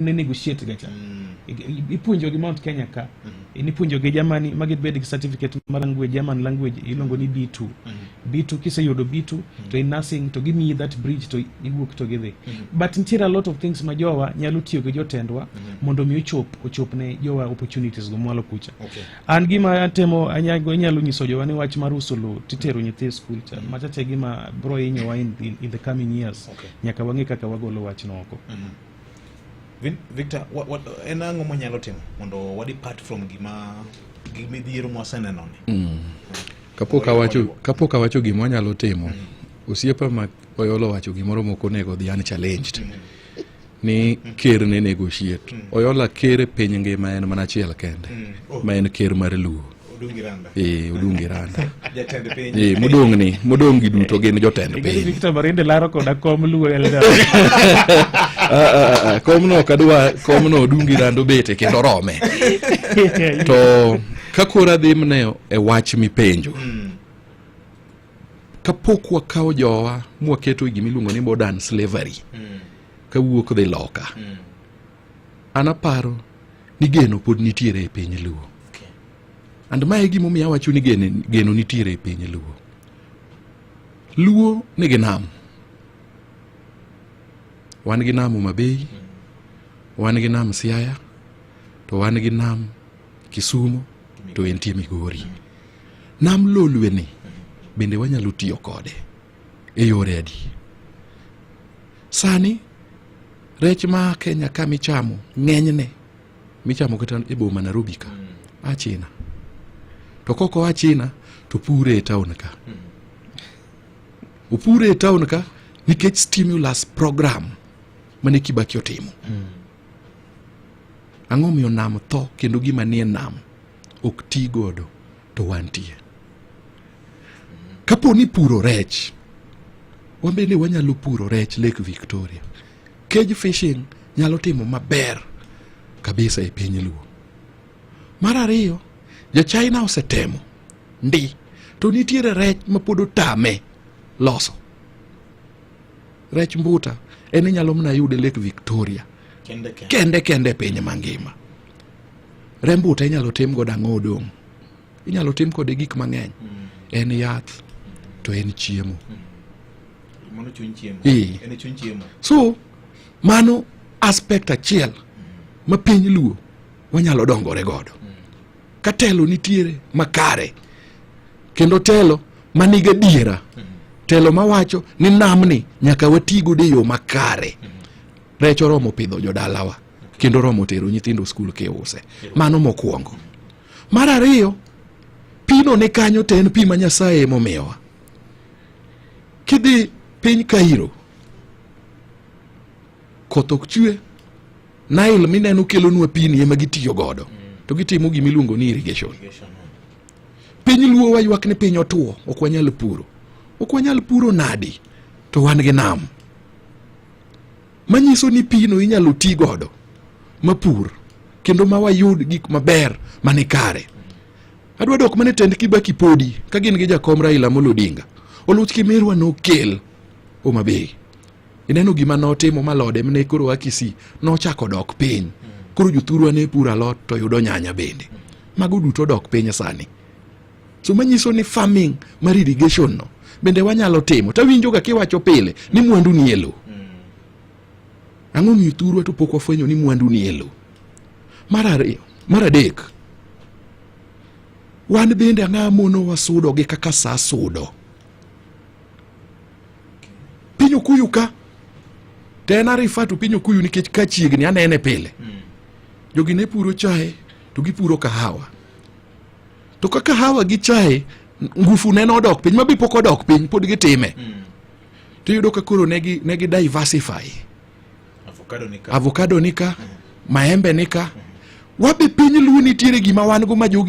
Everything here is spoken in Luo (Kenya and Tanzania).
ne negotiate ga cha mm. ipuonjo gi Mount Kenya ka mm -hmm. nipuonjo gi Germany ma gibed gi certificate mar language German language iluongo ni B2 mm -hmm. B2 kiseyudo B2 mm -hmm. to in nursing to gimiyi that bridge to iwuok to gidhi mm -hmm. but nitiere a lot of things ma jowa nyalo tiyo gi jotendwa mm -hmm. mondo mi ochop ochop ne jowa opportunities go mwalo kucha okay. an gima atemo anyago inyalo nyiso jowa ni wach mar uso lo titero nyithi school cha mm -hmm. machache gima bro inyowa in, in, in the coming years okay. nyaka wang'e kaka wagolo wachno oko mm -hmm. Victor, what, what, en ang'o mwanyalo timo mondo wadi part from gima gimidhiero mwasenenoni mm. kapok awacho kapok awacho gima wanyalo timo mm. osiepa ma oyolo wacho gimoro moko onego dhi an challenged mm. ni ker ne negotiate mm. oyola ker e piny ngima en mana achiel kende mm. oh. ma en ker mar luo Odungi Randa. Eh, Odungi Randa. Jatend piny. Eh, modong' ni, modong' gi duto gin jotend piny. Victor Marinde laro koda kom luo elda. Ah, ah, ah, kom no kadwa, kom no Odungi Randa obete kendo rome. To kakora dhi mne e wach mipenjo. Mm. Kapok wakawo jowa mwaketo gimiluongo ni modern slavery. Mm. Kawuok dhi loka. Mm. An aparo ni geno pod nitiere e piny Luo. And mae gimomiyo awacho ni geno nitiere e piny Luo. Luo nigi nam. Wan gi nam Homa Bay, wan gi nam Siaya, to wan gi nam Kisumu, to entie Migori. Nam Lolwe ni bende wanyalo tiyo kode. e yore adi sani rech ma kenya ka michamo ng'enyne michamo kata e boma nairobi ka mm. a china to koko a china to pure e town ka mm. opure e town ka nikech stimulus program mane kibaki otimo mm. ang'o miyo nam tho kendo gima nie nam ok ti godo to wantie. Kapo ni puro rech, wambe ni wanyalo puro rech Lake Victoria. Cage fishing nyalo timo maber kabisa e piny Luo. Mar ariyo, ja China osetemo ndi to nitiere rech ma pod otame loso rech mbuta en inyalo mna yude Lake Victoria kende kende, kende, kende piny mangima. remb uta inyalo tim godo ang'o odong' inyalo tim kode gik mang'eny mm. en yath to en chiemo mm. so mano aspect achiel mm. ma piny luo wanyalo dongore godo ka telo nitiere makare kendo telo maniga diera telo mawacho ni namni nyaka watigodo e yo makare rech oromo pidho jodalawa kendo romo tero nyithindo skul kiuse mano mokwongo mar ariyo pino ni kanyo to en pi ma nyasaye emomiyowa kidhi piny kairo koth ok chwe nile mineno kelonwa pini ema gitiyo godo to gitimo gima iluongo ni irrigation piny luo waywak ni piny otuo ok wanyal puro ok wanyal puro nadi to wan gi nam manyiso ni pino inyalo ti godo mapur kendo ma wayud gik maber mane kare adwa dok mane tend kibaki podi ka gin gi jakom raila molo odinga oluch kimirwa nokel omabei ineno gima notimo malode mne koro akisi nochako dok piny koro jothurwa ne puro alot to yudo nyanya bende mago duto dok piny sani so manyiso ni farming mar irrigation no bende wanyalo timo tawinjoga kiwacho pile ni mwandu ni e lowo ang'o miyo thurwa to pok wafwenyo ni mwandu ni e lowo mar ariyo mar adek wan bende ang'a mono wasudo gi kaka sa sudo piny okuyu ka to en arifa to piny okuyu nikech ka chiegni anene pile hmm. jogi ne puro chae to gipuro kahawa to kaka hawa gi chae ngufu neno odok piny mabi pok odok piny pod gitime mm. to iyudo ka koro negi, negi diversify avocado nika, avocado nika mm. maembe nika mm. wabe piny luo nitiere gima wan go ma jogi